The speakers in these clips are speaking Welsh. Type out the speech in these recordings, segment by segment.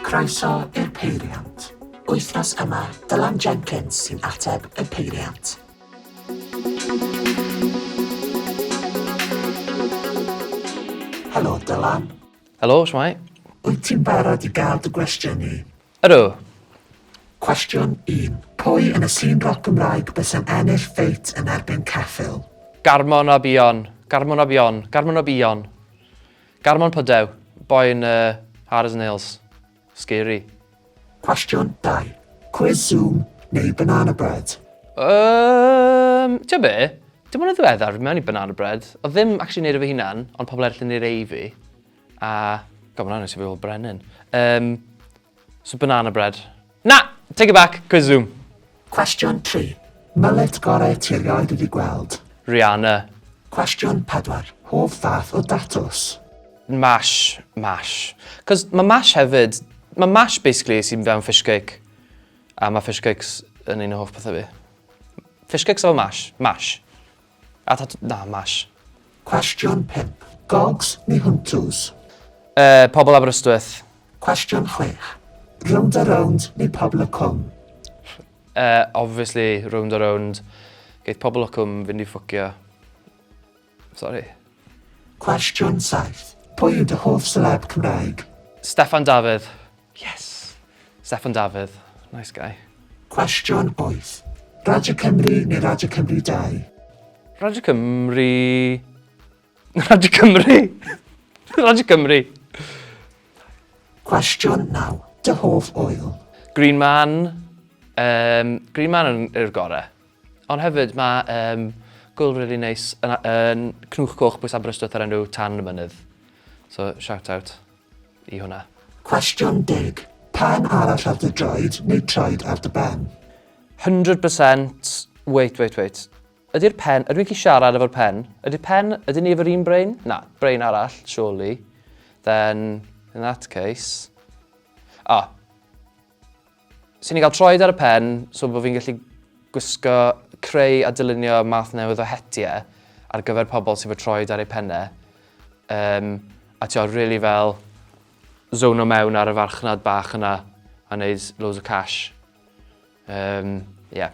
Croeso i'r Peiriant. Wythnos yma, Dylan Jenkins sy'n ateb y peiriant. Helo, Dylan. Helo, shwmae? Wyt ti'n barod i gael dy gwestiynu? Ydw. Cwestiwn 1. Pwy yn y sîn roc Gymraeg bysa'n ennill feit yn erbyn Ceffyl? Garmon a Bion. Garmon a Bion. Garmon a Bion. Garmon Pyddew. Boi yn yy hard as nails. Scary. Cwestiwn 2. Cwis Zoom neu banana bread? Yym, ti'n be? Dim ond yn ddiweddar fi mewn i banana bread. Oedd ddim actually yn neud e fy hunan, ond pobl eraill yn neud e i fi. A, God, mae'n anodd i fi fel brenin. Um, so banana bread. Na! Take it back, quiz zoom. Cwestiwn 3. Mylyd gorau ti erioed wedi gweld? Rihanna. Cwestiwn 4. Hoff fath o datws? Mash, mash. Cos mae mash hefyd, mae mash basically sy'n fewn fish cake. A mae fish cakes yn un o hoff pethau fi. Fish cakes efo mash, mash. A tad na, Mash. Cwestiwn 5. Gogs neu Huntws? Yy, Pobl Aberystwyth. Cwestiwn 6. Rownd a Rownd neu Pobl y Cwm? Yy, obviously, Rownd a Rownd. Geith Pobl y Cwm fynd i ffwcio. Sorry. Cwestiwn 7. Pwy yw dy hoff seleb Cymraeg? Steffan Dafydd. Yes! Steffan Dafydd. Nice guy. Cwestiwn 8. Radio Cymru neu Radio Cymru 2? Radio Cymru... Radio Cymru! Radio Cymru! Cwestiwn 9. Dy hoff oil? Green Man. Um, Green Man yw'r gorau. Ond hefyd mae um, gwyl really neis yn, yn Cnwch Coch Bwys Aberystwyth ar enw Tan y Mynydd. So, shout out. i hwnna. Cwestiwn deg, Pen arall ar dy draed neu traed ar dy ben? Hundred percent Wait, wait, wait. Ydy'r pen... Ydw i'n gallu siarad efo'r pen? Ydy'r pen... Ydyn ni efo'r un brain? Na, brain arall, surely. Then, in that case... Ah, So ni'n cael troed ar y pen, so bod fi'n gallu gwisgo, creu a dylunio math newydd o hetiau ar gyfer pobl sydd fod troed ar eu pennau. Um, a ti'n rili really fel zono mewn ar y farchnad bach yna a wneud loads o cash. Um, yeah.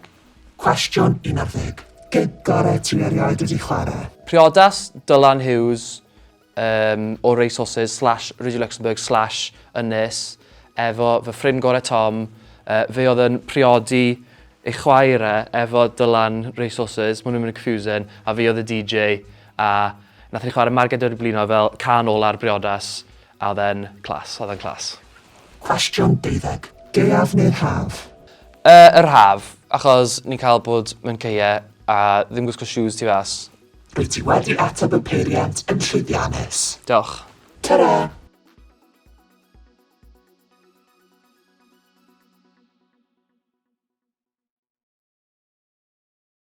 Cwestiwn 11. Gig gorau ti erioed wedi chwarae? Priodas, Dylan Hughes, um, o resources slash Radio Luxembourg slash ynys efo fy ffrind gorau Tom. Uh, fe oedd yn priodi ei chwaer e efo Dylan Resources, maen nhw'n mynd yn confusing, a fi oedd y DJ, a nath ni chwarae Marged o'r blino fel can ôl ar briodas, a oedd e'n clas, oedd e'n clas. Cwestiwn 12. Deaf neu'r haf? Uh, yr haf, achos ni'n cael bod mewn ceie a ddim gwisgo shoes tu fas, Rwyt ti wedi ateb y peiriant yn llwyddiannus. Diolch. Tara!